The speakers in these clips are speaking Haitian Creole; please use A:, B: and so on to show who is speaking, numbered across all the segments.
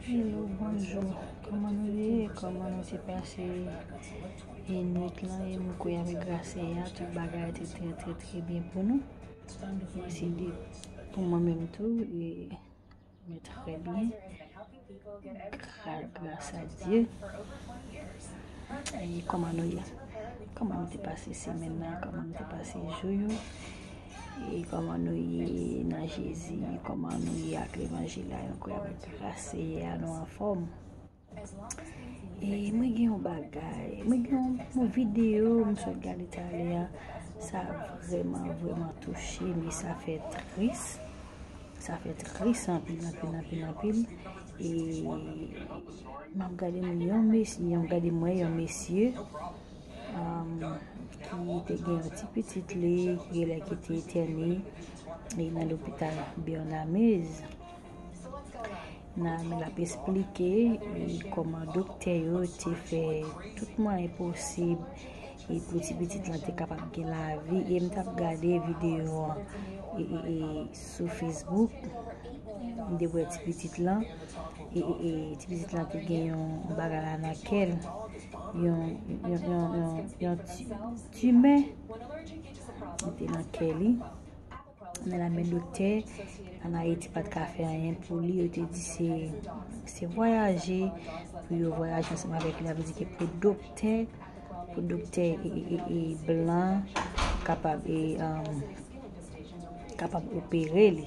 A: Hello bonjou kòman nou ye kòman nou te pase e nwit lan e nou kouyè avèk gras seyè a tout bagay te trè trè trè byen pou nou e se de pou mwen menm tou e mwen trè byen Gras a Dye. E koman nou ye? Koman nou te pase semen nan? Koman nou te pase jou yo? E koman nou ye nan Jezi? Koman nou ye ak levanjil la? Yon kwe avèk gras Seyè a nou anfòm. E mwen gen yon bagay. Mwen gen yon video mwen sot gade talè a. Sa vreman vreman touche. Mwen sa fè tris. Sa fè tris anpil anpil anpil anpil e map gade m yon mesye yon gade mwen yon mesye ki te gen yon ti pitit li ki gen lè ki te etène e nan lopital Bernamez nan men ap esplike e koman doktè yo te fè tout mwen e posib e pou ti pitit lan te kapab gen lavi e m tap gade video an e sou Facebook m te wè ti pitit lan e ti pitit lan te gen yon bagay la nan kèl yon yon yon timè te nan kèli Nan la men doktè, an Ayiti pat ka fè anyen pou li, yo te di se, se vwayaje, pou yo vwayaje ansanm avèk li, sa vle di ke pou doktè, pou doktè e blan kapab e, kapab opere li.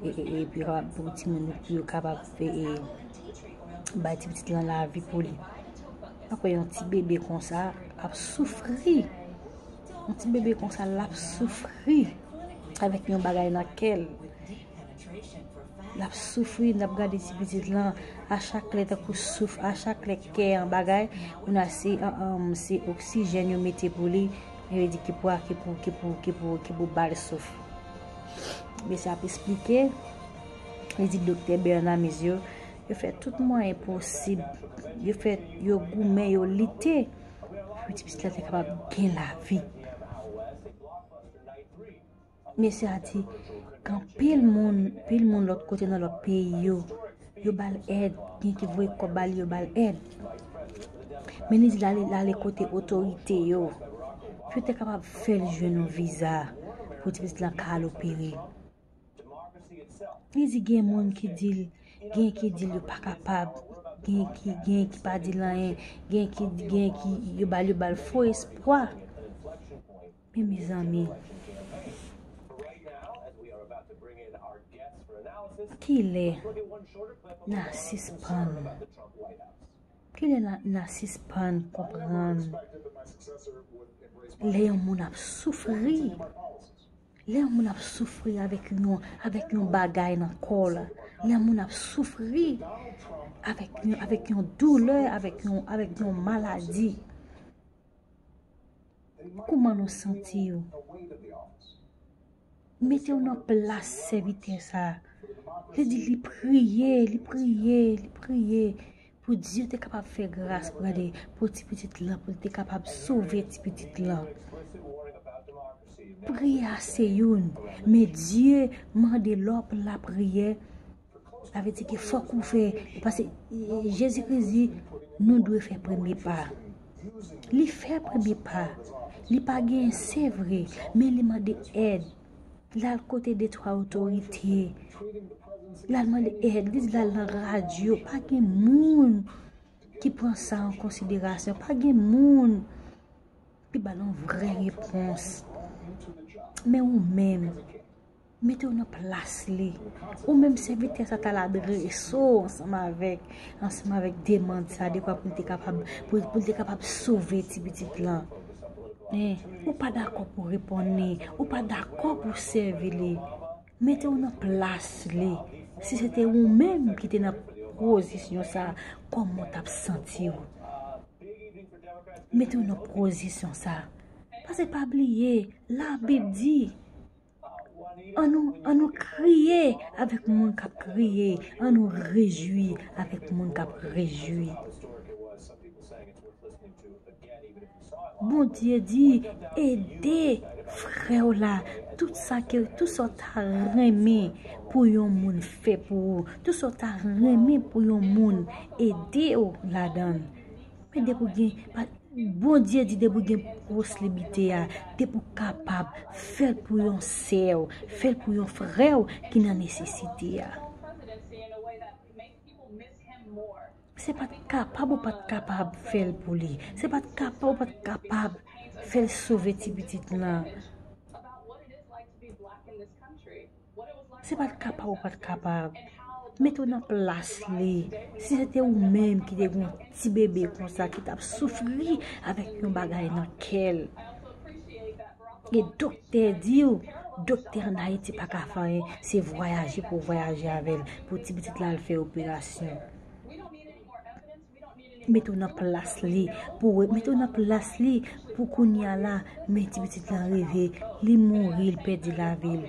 A: e pou yo kapab pou timoun yo pou yo kapab bay ti pitit lan lavi pou li ap wè yon ti bebe konsa ap soufri yon ti bebe konsa l ap soufri avèk yon bagay nan kè l l ap soufri l ap gade ti pitit lan a chak lè ta kou souf a chak lè kè yon bagay ou nan se an an m se oksijen yo mete pou li yo di ki pou a ki pou ki pou ki pou ki pou bal souf Mesye ap esplike, li di Doktè Bernard Mezio, yo fè tout mwayen posib, yo fè, yo goumen, yo lite, pou ti pitit la te kapab gen lavi. Mesye a di, kan pil moun, pil moun lòt kote nan lòt peyi yo, Yo bal èd, gen ki voye kòb ba li yo bal èd. Men li di l ale kote otorite yo pou yo te kapab fè l jwenn yon viza pou ti pitit lan ka al opere. Li di gen moun ki di l, gen ki di l yo pa kapab, gen ki gen ki pa di l anyen, gen ki gen ki yo bal yo bal fo espwa. Men mezanmi. Kilè na sispann. Kilè na sispann konprann. Lè yon moun ap soufri. Lè yon moun ap soufri avèk yon avèk yon bagay nan kòl. Lè yon moun ap soufri avèk yon doulè avèk yon avèk yon maladi. Kouman nou santi yo? Mete w nan plas sèvitè sa. Li di li priye, li priye, li priye pou Dye te kapab fè gras pou li, pou ti pitit la, pou li te kapab sove ti pitit la. Priye a se youn, men Dye mande lò pou lapriyè. Sa vle di ke fòk ou fè, pase Jezi Kris di nou dwe fè premye pa. Li fè premye pa. Li pa genyen se vre, men li mande èd. L al kote de twa otorite. L al mande èd. Li di l al nan radyo. Pa gen moun ki pran sa an konsiderasyon. Pa gen moun ki ba l yon vrè repons. Men ou menm. Mete w nan plas li. Ou menm sèvitè sa ta la dreso ansanm avèk, ansanm avèk demand sa dekwa pou l te kapab, pou l te kapab sove ti pitit lan. Men, ou pa dakò pou reponn li. Ou pa dakò pou sèvi li. Mete w nan plas li. Si se te ou menm ki te nan pozisyon sa, kòman w t ap santi w? Mete w nan pozisyon sa. Pase pa bliye, labib di. An nou, an nou kriye avèk moun k ap kriye, an nou rejwi avèk moun k ap rejwi. Bondye di, ede frè w la, tout sa ke, tout sa w ta renmen pou yon moun fè pou ou, tout sa w ta renmen pou yon moun ede w ladan l. Men depi w gen, Bondye di depi w gen poslibite a, depi w kapab, fè l pou yon sè w, fè l pou yon frè w ki nan nesesite a. Se pa t kapab ou pa t kapab fè l pou li, se pa t kapab ou pa t kapab fè l sove ti pitit lan. Se pa t ka pa ou pa t ka pa. Mete w nan plas li. Si se te ou menm ki te gen yon ti bebe konsa ki t ap soufri avèk yon bagay nan kè l. E doktè di w, doktè an Ayiti pa ka fè anyen, se vwayaje pou w vwayaje avè l pou ti pitit la al fè operasyon. Mete w nan plas li pou wè, mete w nan plas li pou kounye a la, men ti pitit lan rive, li mouri, li pèdi lavi l.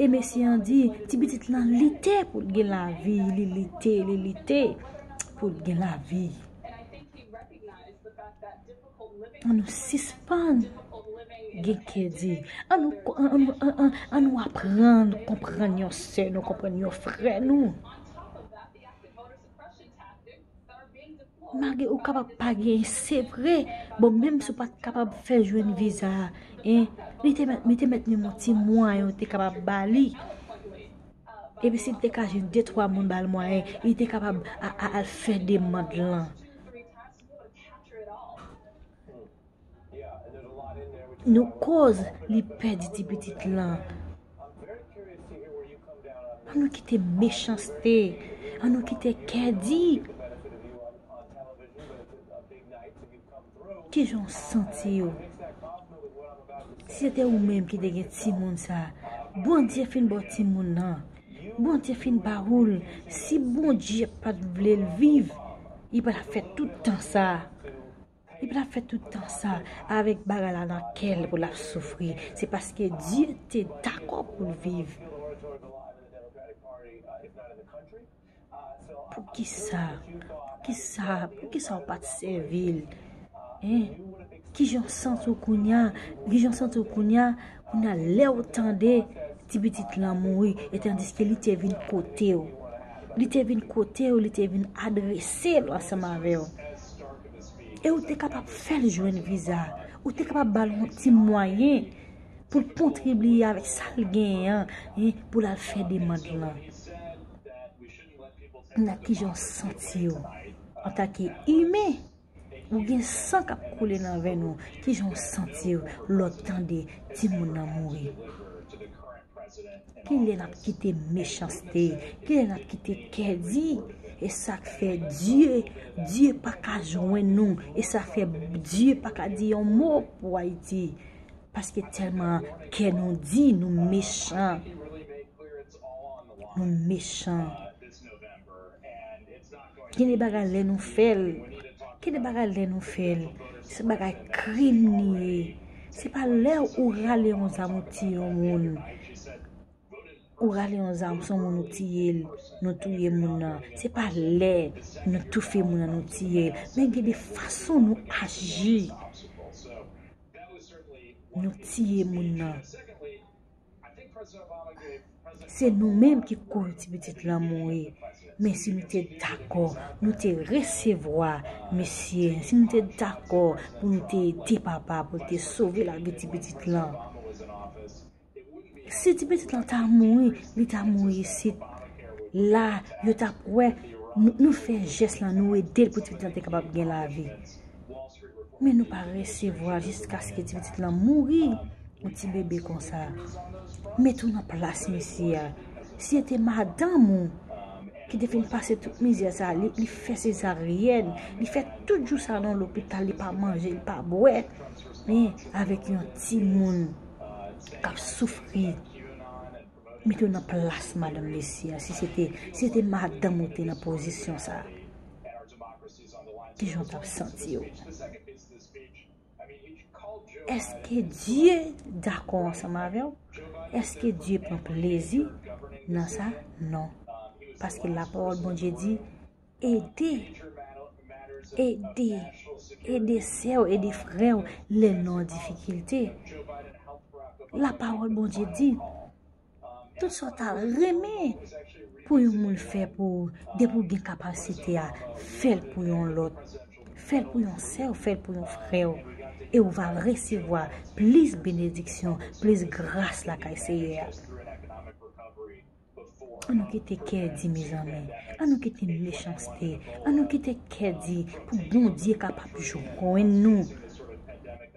A: E mesye an di, ti pitit lan lite pou l gen lavi, li lite, li lite pou l gen lavi. An nou sispann gen kè di, an nou, an nou, an nou, an nou aprann konprann yon sè nou, konprann yon frè nou. Mage ou kapab pa gen se vre bon menm sou pat kapab fè jwenn viza en li te met li te met menm yon ti mwa yon te kapab ba li e pi si te ka jwenn de twa moun bal mwa en li te kapab a al fè demand lan. Nou koz li pèdi ti pitit lan. An nou kite mechanste. An nou kite kè di. Kijan w santi w. Si se te ou menm ki te gen ti moun sa. Bondye fin baw ti moun nan. Bondye fin ba ou l. Si bondye pat vle l viv. Li pa tap fè tout tan sa. Li patap fè tout tan sa avèk bagay la nan kèl pou lap soufri se paske Dye te dakò poul viv. Poukisa poukisa poukisa ou pat sèvil hein kijan ou santi w kounya kijan ou santi w kounya kounya lèw tande ti pitit lan mouri etandiske li te vin kotew li te vin kotew li te vin adresel ansanm avèw. E ou te kapab fè l jwenn viza. Ou te kapab ba l yon ti mwayen pou l kontribiye avèk sa l genyen an pou l al fè demand lan. N ap ki jan w santi w. Antake imen, ou gen san k ap koule nan venn ou. Ki jan w santi w lè w tande timoun nan mouri. Kilè nap kite mechanste, kilè nap kite kè di, e sak fè Dye, Dye paka jwenn nou, e sa fè Dye paka di yon mo pou Ayiti, paske tèlman kè nou di, nou mechan, nou mechan. Gen de bagay lè nou fèl. Gen de bagay lè nou fèl. Se bagay krim li ye. Se pa lè ou rale yon zam ou tiye yon moun. Ou rale yon zam son moun ou tiye l. Nou touye moun nan. Se pa lè nou toufe moun nan nou tiye l. Men gen de fason nou aji. Nou tiye moun nan. Se nou menm ki koz ti pitit lan mouri men si nou te dakò nou te resevwa mesye si nou te dakò pou nou te ede papa pou te sove lavi ti pitit lan si ti pitit lan ta mouri li ta mouri isit la yo tap wè nou fè jès lan nou edel pou ti pitit lan te kapab gen lavi. Men nou pa resevwa jiskaske ti pitit lan mouri. Yon ti bebe konsa. Mete w nan plas mesye a. Si se te madanm ou ki te fin pase tout mizè sa, li fè sezaryèn, li fè tout jou sa nan lopital, li pa manje, li pa bwè. Men, avèk yon ti moun k ap soufri. Mete w nan plas madanm mesye a. Si se te madanm ou te nan pozisyon sa. Kijan w t ap santi w? Èske Dye dakò ansanm avè w? Èske Dye pran plezi nan sa? Non. Paske lapawòl Bondye di, Ede, ede, ede sè w, ede frè w lè l nan difikilte. Lapawòl Bondye di. Tout sa w ta renmen pou yon moun fè pou ou, depi w gen kapasite a, fè l pou yon lòt. Fè l pou yon sè w, fè l pou yon frè w. E ou va resevwa plis benediksyon, plis gras lakay Seyè a. An nou kite kè di mezanmi, an nou kite mechanste, an nou kite kè di pou Bondye kapab jwenn nou.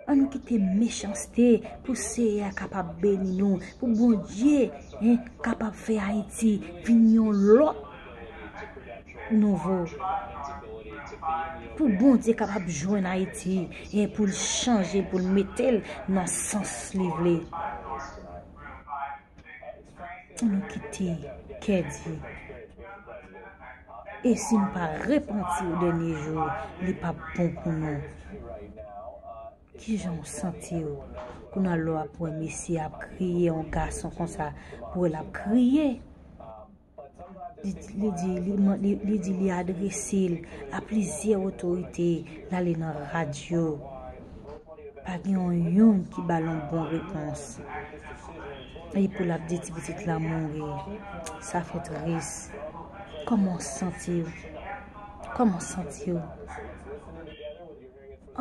A: Ann kite mechanste pou seyè a kapab beni nou pou bondye en kapab fè ayiti vin yon lòt nouvo pou bondye kapab jwenn ayiti en poul chanje poul metel nan sans li vle. Pou nou kite kè di. E si nou pa repanti o dènye jou, li pap bon pou nou. Kijan ou santi ou? Kounal lè w ap wè mesye ap kriye, yon gason konsa, pou wè l ap kriye. Li di li di li adrese l a plizyè otorite l ale nan radyo pa gen yon youn ki ba l yon bon repons e pou l ap di ti pitit la mouri sa fè tris kòman w santi w kòman w santi w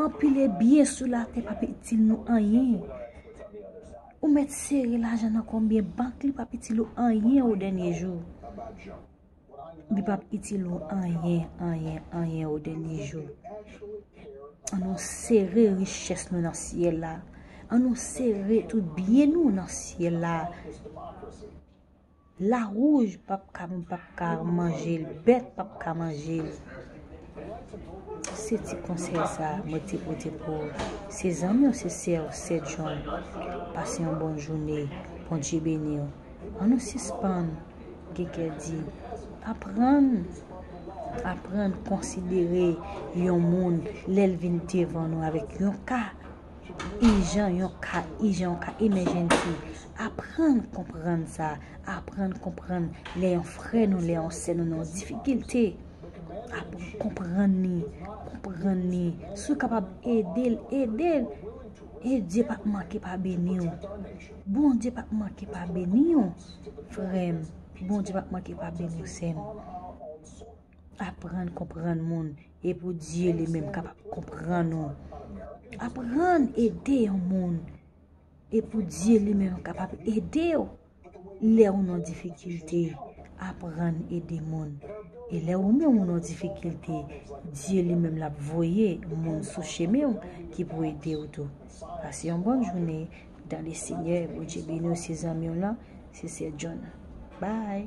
A: anpil e byen sou latè pa itil nou anyen. Ou met sere lajan nan konbyen bank li pap itil ou anyen o denye jou. Li pap itil ou anyen, anyen, anyen o denye jou. An nou sere riches nou nan syel la. An nou sere tout byen nou nan syel la. La rouge pap ka moun pap ka manjel bèt pap ka manjel se ti konsèy sa mwen te pote pou ou se zanmi w se sè w sè John pase yon bon joune Bondye beni w an nou sispann gen kè di aprann aprann konsidere yon moun lèl vin devan nou avèk yon ka Ijan yon ka, ijan yon ka emèjènsi. Aprann konprann sa. Aprann konprann lè yon frè nou, lè yon sè nou nan yon difikilte. Aprann konprann ni, konprann ni. Si w kapab ede l, ede l. E Dye pa p manke pa beni w. Bondye pa p manke pa beni w, frè m. Bondye pa p manke pa beni w, sè m. Aprann konprann moun. E pou Dye li menm kapab konprann nou. Aprann ede yon moun. E pou Dye li menm kapab ede ou. Lè ou nan difikilte, aprann ede moun. E lè ou menm ou nan difikilte, Dye li menm l ap voye moun sou chemen ou ki pou ede ou tou. Pase yon bòn jounen dan le Senyè. Bondye beni ou se zanmi w lan, se Sè John. Bye!